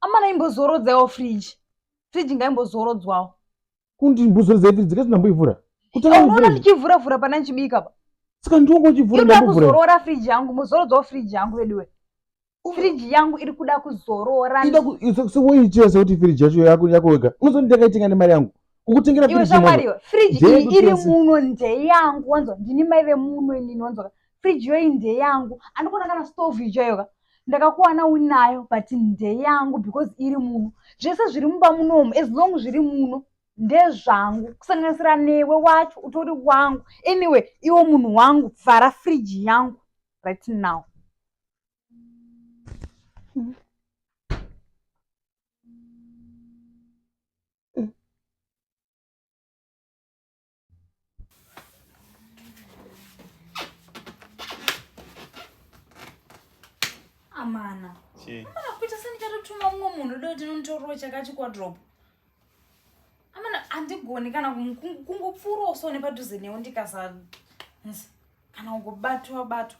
amana imbozorodzawo fridge fridge ngaimbozorodzwawo kundi mbuzorodzai fridge kasi ndamboivhura kutaunoona ndichivhura vhura pana ndichibika pa saka ndiongo uchivhura ndambovhura kuzorora fridge yangu mozorodzawo fridge yangu veduwe firiji yangu iri kuda kuzorora woiitira sekuti firiji yacho yako yako wega unozoti ndakaitenga nemari yangu kukutengera iwe shamwariwe firiji iyi iri muno ndeyangu wanzwa ndini mai vemuno inini wanzwa fridge yoyi ndeyangu andikuona kana stove ichoyoka ndakakuwana unayo but ndeyangu because iri muno zvese zviri mumba munomu as long zviri muno ndezvangu kusanganisira newe wacho utori wangu anyway iwo munhu wangu vhara fridge yangu right now mm. amana amana kuita sendichatotumwa mumwe munhu doo tinonditororo chakati kwadrop amana handigoni kana kungopfuurawo so nepadhuze newo ndikasa kana kungobatwa batwa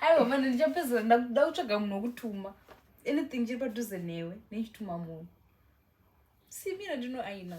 aiwa mani ndichapedzera ndakuda kutsvaga munhu wokutuma anything chiri padhuze newe nechituma munhu simira ndino aina